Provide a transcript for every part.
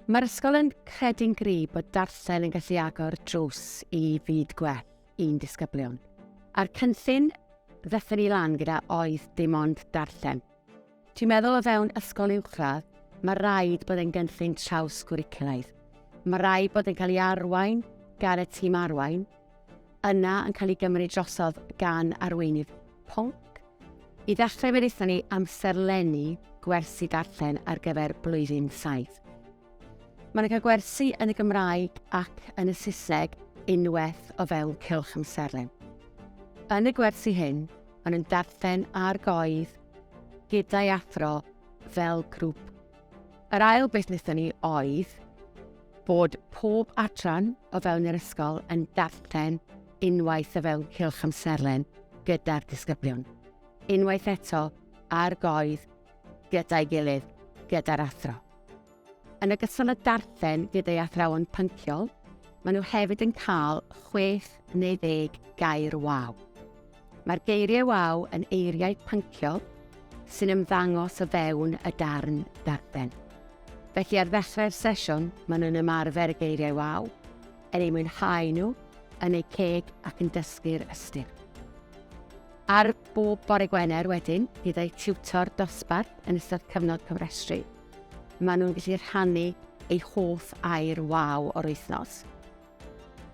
Mae'r ysgol yn credu'n gryf bod darllen yn gallu agor drws i fyd gwell i'n disgyblion. A'r cynllun ddethon ni lan gyda oedd dim ond darllen. Ti'n meddwl o fewn ysgol uwchradd, mae rhaid bod e'n gynllun traws gwricwlaidd. Mae rhaid bod yn cael ei arwain gan y tîm arwain, yna yn cael ei gymryd drosodd gan arweinydd pwnc. I ddechrau fe wnaethon ni amserlennu gwersi darllen ar gyfer blwyddyn saith. Mae'n cael gwersi yn y Gymraeg ac yn y Saesneg unwaith o fewn cylch amserlen. Yn y gwersi hyn, maen nhw'n darllen ar goedd gyda'i athro fel grŵp. Yr ail beth wnaethon ni oedd bod pob adran o fewn yr ysgol yn darllen unwaith o fewn cylch amserlen gyda'r disgyblion. Unwaith eto, ar goedd gyda'i gilydd gyda'r athro. Yn ogystal â darllen gyda'i athrawon pynciol, maen nhw hefyd yn cael chwech neu ddeg gair waw. Mae'r geiriau waw yn eiriau pynciol sy'n ymddangos o fewn y darn darllen. Felly ar ddechrau'r sesiwn, maen nhw'n ymarfer y geiriau waw, yn eu mwynhau nhw, yn eu ceg ac yn dysgu'r ystyr. Ar bob bore Gwener wedyn, bydd eu tiwtor dosbarth yn ystod cyfnod cofrestru. Maen nhw'n gallu rhannu eu hoff air waw o'r wythnos.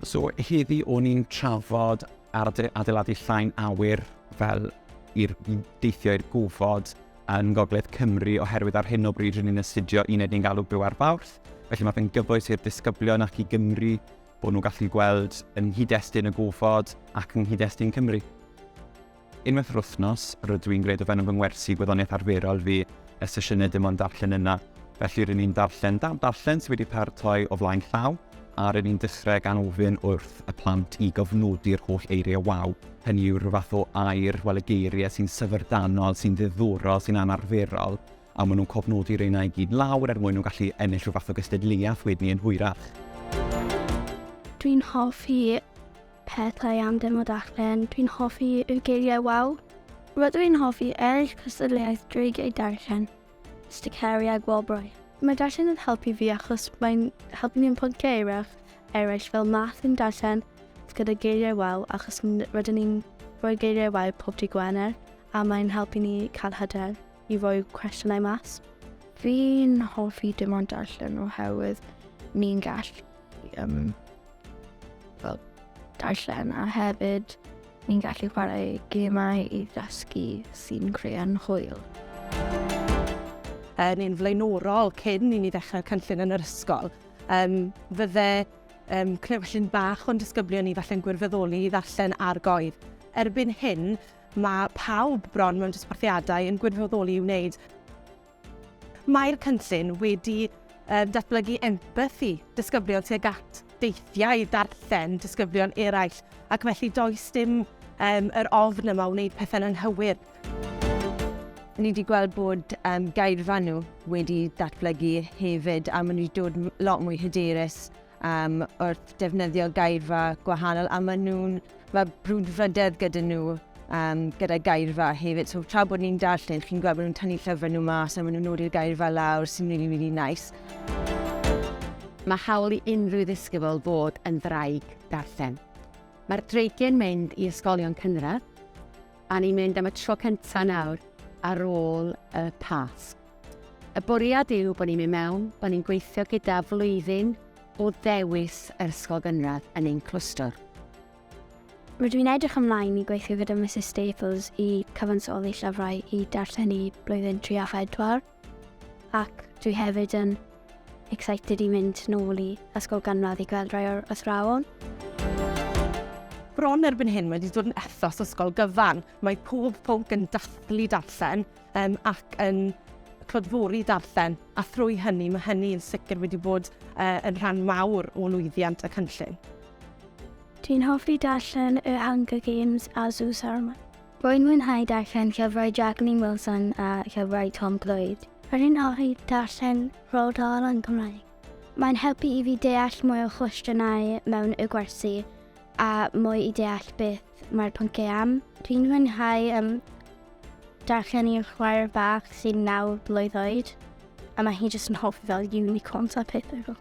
So heddi o'n i'n trafod adeiladu llain awyr fel i'r deithio i'r gofod yn Ngogledd Cymru oherwydd ar hyn o bryd rydyn ni'n astudio uned ni'n galw byw ar Fawrth. Felly mae fe'n gyfoes i'r disgyblion ac i Gymru Bod nhw'n gallu gweld yng nghyd-destun y gofod ac yng nghyd-destun Cymru. Unwaith yr wythnos, rydw i'n gwneud o fewn fy ngwersi gwyddoniaeth arferol fi y sesiynau dim ond darllen yna. Felly rydyn ni'n darllen dal darllen sydd wedi paratoi o flaen llaw a rydyn ni'n dechrau gan ofyn wrth y plant i gofnodi'r holl eiriau waw. Hynny yw rhyw fath o air, wel y geiriau sy'n syfrdanol, sy'n ddiddorol, sy'n anarferol, A maen nhw'n cofnodi reina i gyd lawr er mwyn nhw gallu ennill rhyw fath o gystadleuaeth wedyn yn hwyrach. Dwi'n hoffi pethau am demo darllen. Dwi'n hoffi y geiriau waw. Rydw i'n hoffi eraill cystadleuaeth dreigiau darllen, sticeri a gwobrau. Mae darllen yn helpu fi achos mae'n helpu ni ymwybod geiriau eraill fel math yn darllen gyda geiriau waw achos rydyn ni'n rhoi geiriau waw pob dydd Gwener a mae'n helpu ni cael hyder. i roi cwestiynau mas. Fi'n hoffi dim ond darllen oherwydd ni'n gallu um, fel darllen a hefyd ni'n gallu chwarae gemau i ddysgu sy'n creu'n hwyl. Yn un flaenorol cyn i ni ddechrau'r cynllun yn yr ysgol, um, fydde um, cnewllun bach o'n disgyblion ni falle'n gwirfoddoli i ddarllen argoedd. Erbyn hyn, Mae pawb bron mewn dosbarthiadau yn gwirfoddoli i'w wneud. Mae'r cynllun wedi datblygu empathi disgyblion tuag at deithiau darllen disgyblion eraill, ac felly does dim um, yr ofn yma o wneud pethau'n anghywir. Ni wedi gweld bod um, gairfa nhw wedi datblygu hefyd a maen nhw wedi dod lot mwy hyderus um, wrth defnyddio gairfa gwahanol a maen nhw'n, mae brwdfrydedd gyda nhw um, gyda gairfa hefyd. So tra bod ni'n darllen, chi'n gweld bod nhw'n tynnu llyfrau nhw mas a maen nhw'n nodi'r gairfa lawr sy'n really, really nice. Mae hawl i unrhyw ddisgybl fod yn ddraig darllen. Mae'r dreigiau'n mynd i ysgolion cynradd a ni'n mynd am y tro cyntaf nawr ar ôl y Pasg. Y bwriad yw bod ni'n mynd mewn, bod ni'n gweithio gyda flwyddyn o ddewis yr ysgol gynradd yn ein clwstwr. Rydw i'n edrych ymlaen i gweithio gyda Mrs Staples i cyfansoddi llyfrau i darlledu blwyddyn 3 a 4, ac dwi hefyd yn excited i mynd nôl i ysgol gynradd i gweld rhai o'r athrawon. Bron erbyn hyn mae wedi dod yn ethos ysgol gyfan, mae pob pwnc yn dathlu darllen, um, ac yn clodfori darllen, a thrwy hynny mae hynny yn sicr wedi bod uh, yn rhan mawr o lwyddiant y cynllun. Dwi'n hoffi darllen y Hunger Games a Sue Saramon. Rwy'n mwynhau darllen llyfrau Jacqueline Wilson a llyfrau Tom Clwyd. Rwy'n hoffi darllen Roald Dahl yn Cymraeg. Mae'n helpu i fi deall mwy o chwestiynau mewn y gwersi a mwy i deall beth mae'r pynciau am. Dwi'n mwynhau um, Darllen i'r chwaer bach sy'n naw blwydd oed, a mae hi jyst yn hoffi fel unicorns a pethau fel.